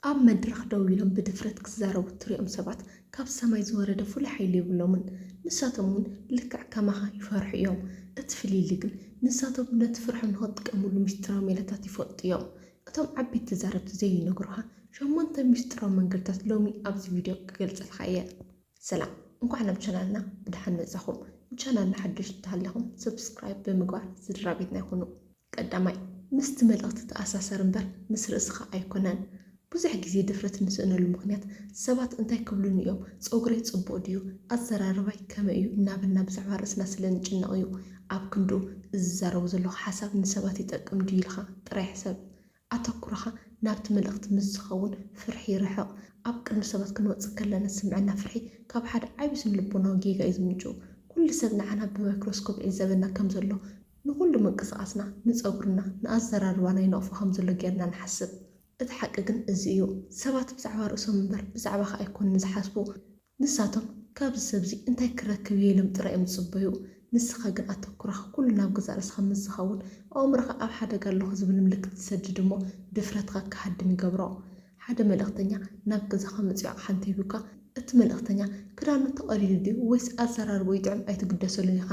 ኣብ መድረኽ ደው ኢሎም ብድፍረት ክዛረቡ እትሪኦም ሰባት ካብ ሰማይ ዝወረደ ፍሉይ ሓይሊ የብሎምን። ንሳቶም እውን ልክዕ ከማኻ ይፈርሑ እዮም። እቲ ፍልልይ ግን ንሳቶም ነቲ ፍርሖም ንኽትጥቀመሉ ምስጢራዊ ሜላታት ይፈልጡ እዮም። እቶም ዓበይቲ ተዛረብቲ ዘይነግሩኻ ሸሞንተ ምስጢራዊ መንገድታት ሎሚ ኣብዚ ቪድዮ ክገልፀልካ እየ። ሰላም እንኳዕ ናብ ቻናልና ብደሓን መፃኹም ንቻናልና ሓደሽቲ እንተሃሊኹም subscribe ብምግባር ስድራቤትና ይኹኑ። ቀዳማይ፣ ምስቲ መልእኽቲ እተኣሳሰር እምበር ምስ ርእስኻ ኣይኰነን። ብዙሕ ግዜ ድፍረት እንስእነሉ ምኽንያት፣ ሰባት እንታይ ክብሉኒ እዮም፣ ጸጕረይ ጽቡቕ ድዩ፣ ኣዘራርባይ ከመይ እዩ እናበልና ብዛዕባ ርእስና ስለ እንጭነቕ እዩ። ኣብ ክንድኡ፣ እዚ ዝዛረቦ ዘለኹ ሓሳብ ንሰባት ይጠቅም ድዩ ኢልካ ጥራይ ሕሰብ። ኣተኩሮኻ ናብቲ መልእኽቲ ምስ ዝኸውን ፍርሒ ይርሕቕ። ኣብ ቅድሚ ሰባት ክንወጽእ ከለና ዝስምዐና ፍርሒ ካብ ሓደ ዓቢ ስነ-ልቦናዊ ጌጋ እዩ ዝምንጭው። ኩሉ ሰብ ንዓና ብማይክሮስኮፕ ይዕዘበና ከም ዘሎ፣ ንኹሉ ምንቅስቓስና፣ ንጸጉርና፣ ንኣዘራርባና ይነቕፎ ከም ዘሎ ጌርና ንሓስብ። እቲ ሓቂ ግን እዚ እዩ፣ ሰባት ብዛዕባ ርእሶም እምበር ብዛዕባኻ ኣይኮኑን ዝሓስቡ። ንሳቶም ካብዚ ሰብዚ እንታይ ክረክብ እየ ኢሎም ጥራይ እዮም ዝጽበዩ። ንስኻ ግን ኣተኩራኻ ኩሉ ናብ ገዛእ ርእስኻ ምስ ዝኸውን፣ ኣእምሮኻ ኣብ ሓደጋ ኣለኹ ዝብል ምልክት ይሰድድ እሞ ድፍረትካ ክሃድም ይገብሮ። ሓደ መልእኽተኛ ናብ ገዛኻ መጺኡ ኣቕሓ እንተሂቡካ፣ እቲ መልእኽተኛ ክዳኑ ተቐዲዱ ድዩ ወይስ ኣዘራርባኡ ይጥዕም ኣይትግደሰሉን ኢኻ።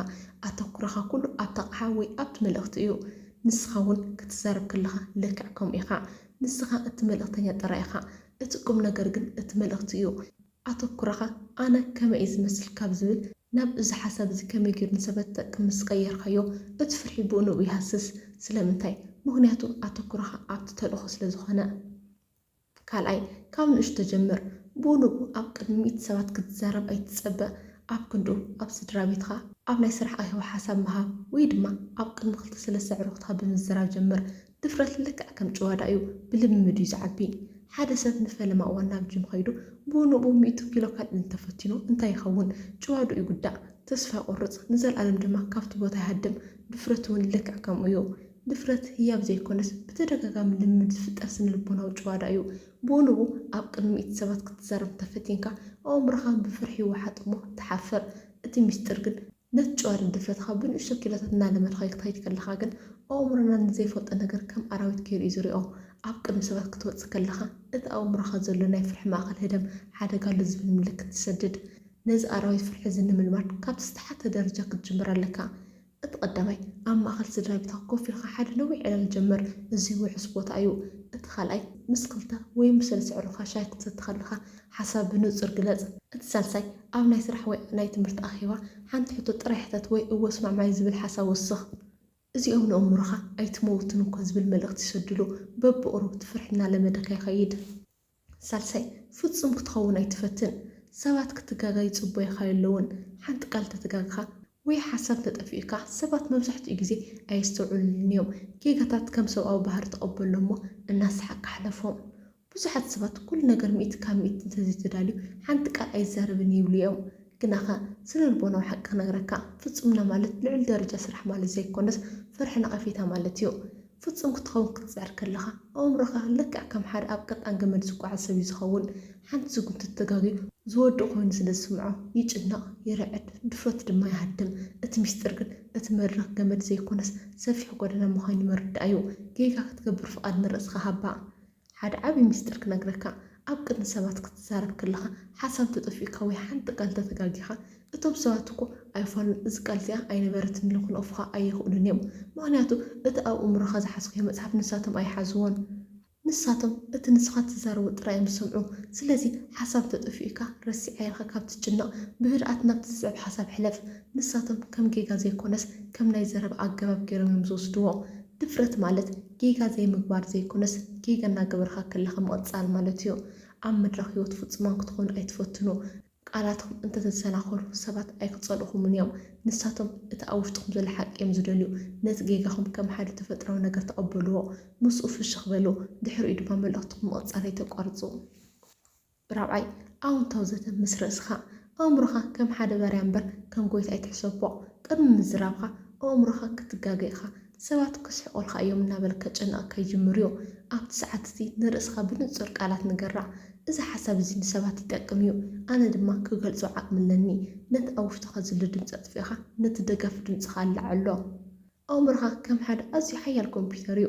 ኣተኩሮኻ ኩሉ ኣብቲ ኣቕሓ ወይ ኣብቲ መልእኽቲ እዩ። ንስኻ እውን ክትዛረብ ከለኻ ልክዕ ከምኡ ኢኻ። ንስኻ እቲ መልእኽተኛ ጥራይ ኢኻ። እቲ ቁምነገር ግን እቲ መልእኽቲ እዩ። ኣተኩሮኻ ኣነ ከመይ እዩ ዝመስል ካብ ዝብል ናብ እዚ ሓሳብ እዚ ከመይ ገይሩ ንሰበት ዝጠቅም ምስ ቀየርካዮ እቲ ፍርሒ ብኡ ንብኡ ይሃስስ። ስለምንታይ? ምኽንያቱ ኣተኩሮኻ ኣብቲ ተልእኾ ስለ ዝኾነ። ካልኣይ፣ ካብ ንእሽቶ ጀምር። ብኡ ንብኡ ኣብ ቅድሚ ሚእቲ ሰባት ክትዛረብ ኣይትጸበ። ኣብ ክንድኡ ኣብ ስድራቤትካ፣ ኣብ ናይ ስራሕ ኣኼባ ሓሳብ ምሃብ ወይ ድማ ኣብ ቅድሚ ክልተ ሰለስተ ኣዕሩኽትካ ብምዝራብ ጀምር። ድፍረት ልክዕ ከም ጭዋዳ እዩ፣ ብልምምድ እዩ ዝዓቢ። ሓደ ሰብ ንፈለማ እዋን ናብ ጂም ኸይዱ ብኡ ንብኡ ሚእቲ ኪሎ ከልዕል እንተፈቲኑ እንታይ ይኸውን? ጭዋድኡ ይጉዳእ፣ ተስፋ ይቖርጽ፣ ንዘለኣለም ድማ ካብቲ ቦታ ይሃድም። ድፍረት እውን ልክዕ ከምኡ እዩ። ድፍረት ህያብ ዘይኰነስ ብተደጋጋሚ ልምምድ ዝፍጠር ስነ-ልቦናዊ ጭዋዳ እዩ። ብኡ ንብኡ ኣብ ቅድሚ ሚእቲ ሰባት ክትዛረብ እንተፈቲንካ፣ ኣእምሮኻ ብፍርሒ ይወሓጥ እሞ ትሓፍር። እቲ ምስጢር ግን። ነቲ ጭዋደን ድፍረትኻ ብንእሽቶ ኪሎታት እናለመድካዮ ክትኸይድ ከለኻ ግን፣ ኣእምሮና ንዘይፈልጦ ነገር ከም ኣራዊት ገይሩ እዩ ዝሪኦ። ኣብ ቅድሚ ሰባት ክትወጽእ ከለኻ፣ እቲ ኣብ ኣእምሮኻ ዘሎ ናይ ፍርሒ ማእከል ህደም ሓደጋ ኣሎ ዝብል ምልክት ትሰድድ። ነዚ ኣራዊት ፍርሒ እዚ ንምልማድ ካብቲ ዝተሓተ ደረጃ ክትጅምር ኣለካ። እቲ ቀዳማይ፣ ኣብ ማእከል ስድራቤትካ ኮፍ ኢልካ ሓደ ነዊሕ ዕላል ጀምር። እዚ ውሑስ ቦታ እዩ። እቲ ካልኣይ፣ ምስ ክልተ ወይ ምስ ሰለስተ ኣዕሩኽካ ሻሂ ክትሰቲ ከለኻ ሓሳብ ብንጹር ግለጽ። እቲ ሳልሳይ፣ ኣብ ናይ ስራሕ ወይ ናይ ትምህርቲ ኣኼባ ሓንቲ ሕቶ ጥራይ ሕተት ወይ እወ እስማዕማዒ ዝብል ሓሳብ ወስኽ። እዚኦም ንእምሮኻ ኣይትመውትን እኮ ዝብል መልእኽቲ ይሰዱሉ። በብቕሩብ እቲ ፍርሒ እናለመደካ ይኸይድ። ሳልሳይ፣ ፍጹም ክትኸውን ኣይትፈትን። ሰባት ክትጋገ ይጽበዩኻ የለዉን። ሓንቲ ቃል እንተተጋገኻ ወይ ሓሳብ እንተጠፊኡካ፣ ሰባት መብዛሕትኡ ግዜ ኣየስተውዕሉልን'ዮም። ጌጋታት ከም ሰብኣዊ ባህሪ ተቐበሎም'ሞ እናሰሓቕካ ሕለፎም። ብዙሓት ሰባት ኩሉ ነገር ሚእቲ ካብ ሚእቲ እንተዘይተዳልዩ ሓንቲ ቃል ኣይዛረብን ይብሉ'ዮም። ግናኸ ስነልቦናዊ ሓቂ ክነግረካ፣ ፍጹምና ማለት ልዑል ደረጃ ስራሕ ማለት ዘይኮነስ ፍርሒ ነቐፌታ ማለት'ዩ። ፍጹም ክትኸውን ክትጽዕር ከለኻ፣ ኣእምሮኻ ልክዕ ከም ሓደ ኣብ ቀጣን ገመድ ዝጓዓዝ ሰብ'ዩ ዝኸውን። ሓንቲ ስጉምቲ ተጋጊዩ ዝወድቕ ኮይኑ ስለ ዝስምዖ፣ ይጭነቕ፣ ይርዕድ፣ ድፍረቱ ድማ ይሃድም። እቲ ምስጢር ግን፣ እቲ መድረኽ ገመድ ዘይኮነስ ሰፊሕ ጎደና ምዃኑ ምርዳእ'ዩ። ጌጋ ክትገብር ፍቓድ ንርእስኻ ሃባ። ሓደ ዓቢ ምስጢር ክነግረካ፣ ኣብ ቅድሚ ሰባት ክትዛረብ ከለኻ ሓሳብ እንተጠፊኡካ ወይ ሓንቲ ቃል እንተተጋጊኻ፣ እቶም ሰባት እኮ ኣይፋሉን እዚ ቃል እዚኣ ኣይነበረትን ኢሎም ክንቕፉኻ ኣይኽእሉን እዮም። ምኽንያቱ እቲ ኣብ ኣእምሮኻ ዝሓዝካዮ መጽሓፍ ንሳቶም ኣይሓዝዎን። ንሳቶም እቲ ንስኻ እትዛረቦ ጥራይ እዮም ዝሰምዑ። ስለዚ ሓሳብ እንተጠፊኡካ ረሲዓ ኢልካ ካብ እትጭነቕ፣ ብህድኣት ናብቲ ዝስዕብ ሓሳብ ሕለፍ። ንሳቶም ከም ጌጋ ዘይኮነስ ከም ናይ ዘረባ ኣገባብ ገይሮም እዮም ዝወስድዎ። ድፍረት ማለት። ጌጋ ዘይምግባር ዘይኮነስ ጌጋ እናገበርካ ከለኻ ምቕጻል ማለት እዩ። ኣብ መድረኽ ህይወት ፍጹማን ክትኾኑ ኣይትፈትኑ። ቃላትኩም እንተተሰናኸሉ ሰባት ኣይክጸልኡኹምን እዮም። ንሳቶም እቲ ኣብ ውሽጥኹም ዘሎ ሓቂ እዮም ዝደልዩ። ነቲ ጌጋኹም ከም ሓደ ተፈጥሮኣዊ ነገር ተቐበልዎ። ምስኡ ፍሽኽ በሉ። ድሕሪኡ ድማ መልእኽትኹም ምቕጻል ኣይተቋርጹ። ራብዓይ፣ ኣወንታዊ ዘተ ምስ ርእስኻ። ኣእምሮኻ ከም ሓደ ባርያ እምበር ከም ጎይታ ኣይትሕሰቦ። ቅድሚ ምዝራብካ ኣእምሮኻ ክትጋገ ኢኻ። ሰባት ክስሕቁልካ እዮም እናበለ ከጨንቐካ ይጅምር እዩ። ኣብቲ ሰዓት እቲ ንርእስኻ ብንጹር ቃላት ንገራ፣ እዚ ሓሳብ እዚ ንሰባት ይጠቅም እዩ፣ ኣነ ድማ ክገልጾ ዓቕሚ ኣለኒ። ነቲ ኣብ ውሽጥኻ ዘሎ ድምጺ ኣጥፊእካ ነቲ ደጋፊ ድምጽኻ ኣለዓዕሎ። ኣእምሮኻ ከም ሓደ ኣዝዩ ሓያል ኮምፕዩተር እዩ።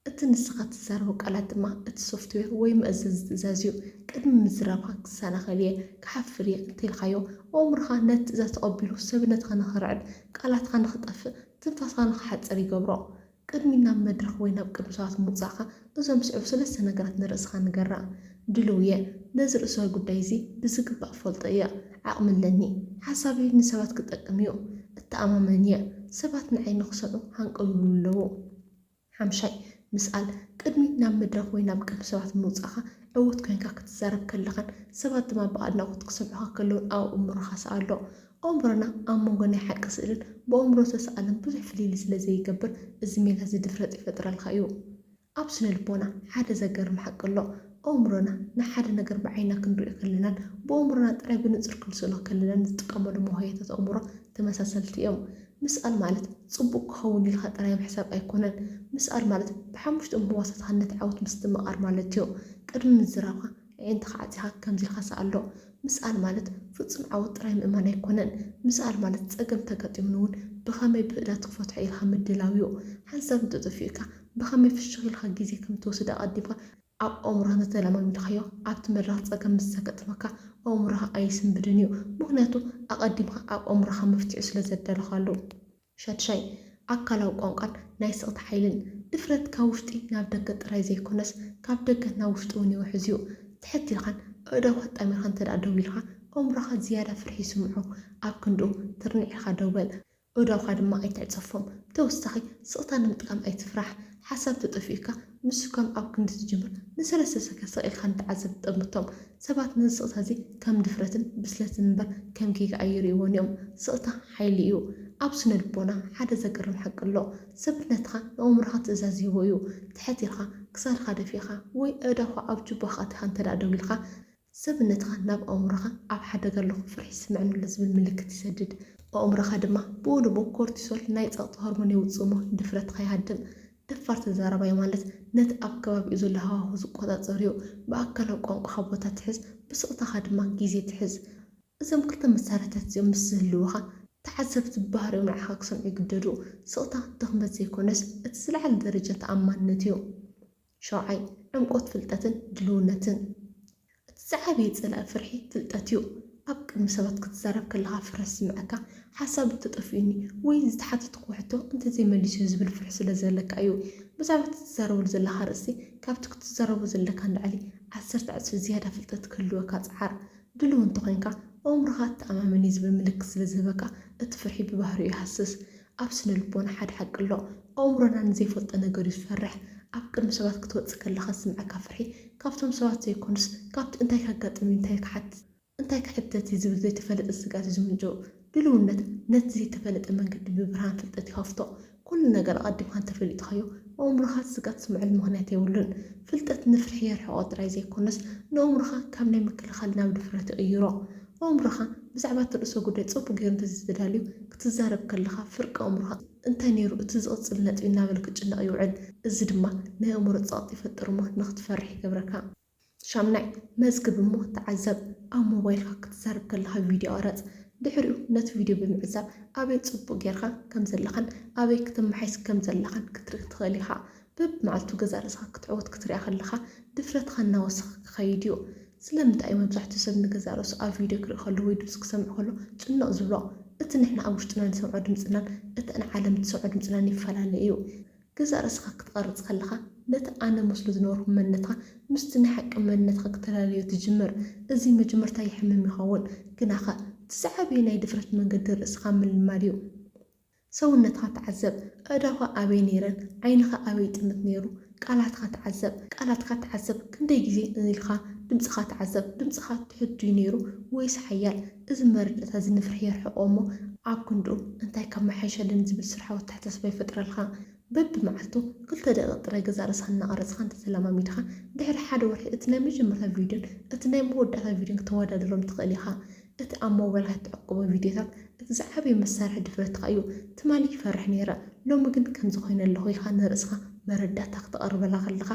እቲ ንስኻ እትዛረቦ ቃላት ድማ እቲ ሶፍትዌር ወይ መእዘዚ ትእዛዝ እዩ። ቅድሚ ምዝራብካ ክሰናኸል እየ፣ ክሓፍር እየ እንተኢልካዮ፣ ኣእምሮኻ ነቲ ትእዛዝ ተቐቢሉ ሰብነትካ ንኽርዕድ፣ ቃላትካ ንኽጠፍእ፣ ትንፋስካ ንኽሓጽር ይገብሮ። ቅድሚ ናብ መድረኽ ወይ ናብ ቅድሚ ሰባት ምውጻእካ እዞም ዝስዕቡ ሰለስተ ነገራት ንርእስኻ ንገራ፣ ድሉው እየ፣ ነዚ ርእሰዊ ጉዳይ እዚ ብዝግባእ እፈልጦ እየ፣ ዓቕሚ ኣለኒ፣ ሓሳበይ ንሰባት ክጠቅም እዩ፣ እተኣማመን እየ፣ ሰባት ንዓይ ንኽሰምዑ ሃንቀው ይብሉ ኣለዉ። ሓምሻይ፣ ምስኣል፣ ቅድሚ ናብ መድረኽ ወይ ናብ ቅድሚ ሰባት ምውጻእካ ዕዉት ኰይንካ ክትዛረብ ከለኻን ሰባት ድማ ብኣድናቖት ክሰምዑኻ ከለዉን ኣብ ኣእምሮኻ ስኣሎ። ኣእምሮና ኣብ መንጎ ናይ ሓቂ ስእልን ብኣእምሮ ዝተስኣለን ብዙሕ ፍልልይ ስለ ዘይገብር እዚ ሜላ'ዚ ድፍረት ይፈጥረልካ እዩ። ኣብ ስነልቦና ሓደ ዘገርም ሓቂ ኣሎ፣ ኣእምሮና ንሓደ ነገር ብዓይንና ክንርእዮ ከለናን ብኣእምሮና ጥራይ ብንጹር ክንስእሎ ከለናን ዝጥቀመሉ መውሃያታት ኣእምሮ ተመሳሰልቲ እዮም። ምስኣል ማለት ጽቡቕ ክኸውን ኢልካ ጥራይ ምሕሳብ ኣይኮነን። ምስኣል ማለት ብሓሙሽትኦም ህዋሳትካ ነቲ ዓወት ምስትምቓር ማለትዮ። ቅድሚ ምዝራብካ ኣዒንትኻ ዓጺኻ ከምዚ ኢልካ ስኣሎ። ምስኣል ማለት ፍጹም ዓወት ጥራይ ምእማን ኣይኮነን። ምስኣል ማለት ጸገም እንተጋጢሙኒ እውን ብኸመይ ብህእላት ክፈትሖ ኢልካ ምድላውዮ። ሓንሳብ እንተጠፊኡካ ብኸመይ ፍሽኽ ኢልካ ግዜ ከምትወስድ ኣቐዲምካ ኣብ ኣእምሮኻ እንተተለማሚድካዮ ኣብቲ መድረኽ ጸገም ምስ ዘገጥመካ ኣእምሮኻ ኣይስንብድን እዩ ምኽንያቱ ኣቐዲምካ ኣብ ኣእምሮኻ መፍትሒኡ ስለ ዘዳለኻሉ። ሻድሻይ፣ ኣካላዊ ቋንቋን ናይ ስቕታ ሓይልን። ድፍረት ካብ ውሽጢ ናብ ደገ ጥራይ ዘይኮነስ ካብ ደገ ናብ ውሽጢ እውን ይውሕዝ እዩ። ትሕት ኢልካን ኣእዳውካ ኣጣሚርካን እንተድኣ ደው ኢልካ ኣእምሮኻ ዝያዳ ፍርሒ ይስምዖ። ኣብ ክንድኡ ትርንዕ ኢልካ ደው በል። እዳውካ ድማ ኣይትዕጸፎም። ብተወሳኺ ስቕታ ንምጥቃም ኣይትፍራሕ። ሓሳብ ተጠፊኡካ ምስኳም ኣብ ክንዲ ትጅምር ንሰለስተ ሰከ ስቕ ኢልካ ንተዓዘብቲ ጠምቶም። ሰባት ነዚ ስቕታ እዚ ከም ድፍረትን ብስለትን እምበር ከም ጌጋ ኣይርእይዎን እዮም። ስቕታ ሓይሊ እዩ። ኣብ ስነልቦና ሓደ ዘገርም ሓቂ ኣሎ። ሰብነትካ ንኣእምሮኻ ትእዛዝ ይህቦ እዩ። ትሕት ኢልካ፣ ክሳድካ ደፊእካ ወይ ኣእዳውካ ኣብ ጁባኻ ኣእቲኻ እንተድኣ ደው ኢልካ፣ ሰብነትኻ ናብ ኣእምሮኻ ኣብ ሓደጋ ኣለኹ፣ ፍርሒ ይስምዐኒ ኣሎ ዝብል ምልክት ይሰድድ። ኣእምሮኻ ድማ ብኡ ንብኡ ኮርቲሶል፣ ናይ ጸቕጢ ሆርሞን፣ የውጽእ እሞ ድፍረትካ ይሃድም። ደፋር ተዛራባይ ማለት ነቲ ኣብ ከባቢኡ ዘሎ ሃዋሁ ዝቆጻጸር'ዩ። ብኣካላዊ ቋንቋኻ ቦታ ትሕዝ፣ ብስቕታኻ ድማ ግዜ ትሕዝ። እዞም ክልተ መሳርሒታት እዚኦም ምስ ዝህልዉኻ፣ ተዓዘብቲ ብባህሪኦም ንዓኻ ክሰምዑ ይግደዱ። ስቕታ ድኽመት ዘይኮነስ፣ እቲ ዝለዓለ ደረጃ ተኣማንነት'ዩ። ሸውዓይ፣ ዕምቆት ፍልጠትን ድልውነትን። እቲ ዝዓበየ ጸላኢ ፍርሒ ፍልጠት እዩ። ኣብ ቅድሚ ሰባት ክትዛረብ ከለኻ ፍርሒ ዝስምዐካ፣ ሓሳብ እንተጠፊኡኒ ወይ ዝተሓተትክዎ ሕቶ እንተዘይመሊሰዮ ዝብል ፍርሒ ስለዘለካ እዩ። ብዛዕባ እቲ ትዛረበሉ ዘለኻ ኣርእስቲ ካብቲ ክትዛረቦ ዘለካ ንላዕሊ ዓሰርተ ዕጽፊ ዝያዳ ፍልጠት ክህልወካ ጽዓር። ድሉው እንተኾይንካ፣ ኣእምሮኻ ኣተኣማመን እዩ ዝብል ምልክት ስለዝህበካ እቲ ፍርሒ ብባህሪኡ ይሃስስ። ኣብ ስነልቦና ሓደ ሓቂ ኣሎ፣ ኣእምሮና ንዘይፈልጦ ነገር'ዩ ዝፈርሕ። ኣብ ቅድሚ ሰባት ክትወጽእ ከለኻ ዝስምዓካ ፍርሒ፣ ካብቶም ሰባት ዘይኮነስ፣ ካብቲ እንታይ ከጋጥም'ዩ፣ እንታይ ክሓትት፣ እንታይ ክሕተት'ዩ ዝብል ዘይተፈለጠ ስግኣት'ዩ ዝምንጭው። ድልውነት ነቲ ዘይተፈለጠ መንገዲ ብብርሃን ፍልጠት ይኸፍቶ። ኩሉ ነገር ኣቐዲምካ እንተፈሊጥካዮ፣ ኣእምሮኻ እቲ ስግኣት ዝስምዓሉ ምኽንያት የብሉን። ፍልጠት ንፍርሒ የርሕቖ ጥራይ ዘይኮነስ፣ ንኣእምሮኻ ካብ ናይ ምክልኻል ናብ ድፍረት ይቕይሮ። ኣእምሮኻ ብዛዕባ እቲ ርእሰ ጉዳይ ጽቡቕ ገይሩ እንተ ዘይተዳልዩ፣ ክትዛረብ ከለኻ ፍርቂ ኣእምሮኻ እንታይ ነይሩ እቲ ዝቕጽል ነጥቢ እናበለ ክጭነቕ ይውዕል። እዚ ድማ ናይ ኣእምሮ ጸቕጢ ይፈጥር እሞ ንኽትፈርሕ ይገብረካ። ሻምናይ፣ መዝግብ እሞ ተዓዘብ። ኣብ ሞባይልካ ክትዛረብ ከለኻ ቪድዮ ቕረጽ። ድሕሪኡ ነቲ ቪድዮ ብምዕዛብ ኣበይ ጽቡቕ ገይርካ ከም ዘለኻን ኣበይ ክተመሓይስ ከም ዘለኻን ክትርኢ ትኽእል ኢኻ። በብመዓልቱ ገዛእ ርእስኻ ክትዕወት ክትርኣ ከለኻ ድፍረትኻ እናወሰኸ ክኸይድ እዩ። ስለምንታይ እዩ መብዛሕትኡ ሰብ ንገዛእ ርእሱ ኣብ ቪድዮ ክርኢ ከሎ ወይ ድምጺ ክሰምዕ ከሎ ጭንቕ ዝብሎ? እቲ ንሕና ኣብ ውሽጥና ንሰምዖ ድምጽናን እተን ዓለም እትሰምዖ ድምጽናን ይፈላለ እዩ። ገዛእ ርእስኻ ክትቐርጽ ከለኻ ነቲ ኣነ መስሎ ዝነበርኩ መንነትካ ምስቲ ናይ ሓቂ መንነትካ ክተላለዮ ትጅምር። እዚ መጀመርታ የሕምም ይኸውን። ግናኸ እቲ ዝዓበየ ናይ ድፍረት መንገዲ ርእስኻ ምልማድ እዩ። ሰውነትካ ተዓዘብ፣ ኣእዳውካ ኣበይ ነይረን፣ ዓይንኻ ኣበይ ይጥምት ነይሩ፣ ቃላትካ ተዓዘብ፣ ቃላትካ ተዓዘብ፣ ክንደይ ግዜ እን ኢልካ፣ ድምጽኻ ተዓዘብ፣ ድምጽኻ ትሑት ድዩ ነይሩ ወይስ ሓያል፣ እዚ መረዳእታ እዚ ንፍርሒ የርሕቆ እሞ ኣብ ክንድኡ እንታይ ከመሓይሸልን ዝብል ስርሓዊ ኣተሓሳስባ ይፈጥረልካ። በብመዓልቱ ክልተ ደቒቕ ጥራይ ገዛእ ርእስኻ እናቐረጽካ እንተተለማሚድካ፣ ድሕሪ ሓደ ወርሒ እቲ ናይ መጀመርታ ቪድዮን እቲ ናይ መወዳእታ ቪድዮን ክተወዳድሮም ትኽእል ኢኻ። እቲ ኣብ ሞባይልካ እትዕቅቦ ቪድዮታት እቲ ዝዓበየ መሳርሒ ድፍረትካ እዩ። ትማሊ ይፈርሕ ነይረ፣ ሎሚ ግን ከምዚ ኰይነ ኣለኹ ኢልካ ንርእስኻ መረዳእታ ክተቐርበላ ከለኻ፣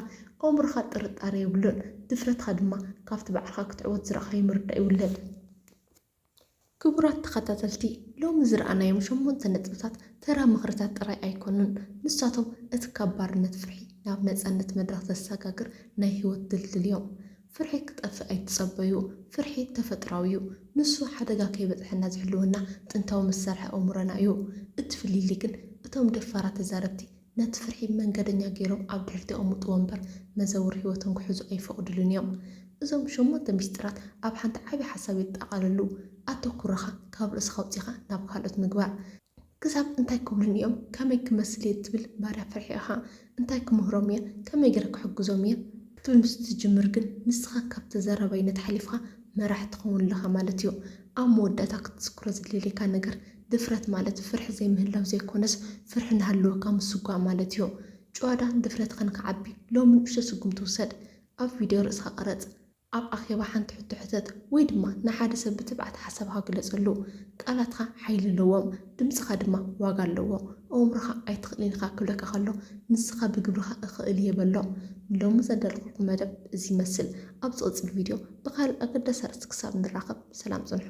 ኣእምሮኻ ጥርጣረ የብሉን፣ ድፍረትካ ድማ ካብቲ ባዕልኻ ክትዕወት ዝረኣኻዮ ምርዳእ ይውለድ። ክቡራት ተኸታተልቲ ሎሚ ዝረኣናዮም ሸሞንተ ነጥብታት ተራ ምኽርታት ጥራይ ኣይኮኑን። ንሳቶም እቲ ካብ ባርነት ፍርሒ ናብ ነጻነት መድረኽ ዘሰጋግር ናይ ህይወት ድልድል እዮም። ፍርሒ ክጠፍእ ኣይትጸበዩ። ፍርሒ ተፈጥሮኣዊ እዩ። ንሱ ሓደጋ ከይበጽሐና ዝሕልወና ጥንታዊ መሳርሒ ኣእምሮና እዩ። እቲ ፍልልይ ግን እቶም ደፋራት ተዛረብቲ ነቲ ፍርሒ መንገደኛ ገይሮም ኣብ ድሕሪት የቐምጥዎ እምበር መዘውር ሕይወቶም ክሕዙ ኣይፈቕዱሉን እዮም። እዞም ሸሞንተ ምስጢራት ኣብ ሓንቲ ዓቢ ሓሳብ የጠቓልሉ፣ ኣተኩሮኻ ካብ ርእስኻ ኣውጺኻ ናብ ካልኦት ምግባር። ክሳብ እንታይ ክብሉኒ እዮም፣ ከመይ ክመስል እየ እትብል ባርያ ፍርሒ ኢኻ። እንታይ ክምህሮም እየ፣ ከመይ ገይረ ክሕግዞም እየ? ክትብል ምስ እትጅምር ግን ንስኻ ካብ ተዛራባይነት ሓሊፍካ መራሒ ትኸውን ኣለኻ ማለት እዩ። ኣብ መወዳእታ ክትዝክሮ ዝደልየካ ነገር ድፍረት ማለት ፍርሒ ዘይምህላው ዘይኮነስ ፍርሒ እናሃለወካ ምስጓም ማለት እዩ። ጭዋዳን ድፍረትካን ክዓቢ ሎሚ ንእሽቶ ስጉምቲ ውሰድ። ኣብ ቪድዮ ርእስኻ ቅረጽ። ኣብ ኣኼባ ሓንቲ ሕቶ ሕተት ወይ ድማ ንሓደ ሰብ ብትብዓት ሓሳብኻ ግለጸሉ። ቃላትካ ሓይሊ ኣለዎም፣ ድምጽኻ ድማ ዋጋ ኣለዎ። ኣእምሮኻ ኣይትኽእልን ኢኻ ክብለካ ከሎ ንስኻ ብግብርኻ እኽእል እየ በሎ። ንሎሚ ዘዳለኹልኩም መደብ እዚ ይመስል። ኣብ ዝቕጽል ቪድዮ። ብካልእ ኣገዳሲ ኣርእስቲ ክሳብ ንራኸብ ሰላም ጽንሑ።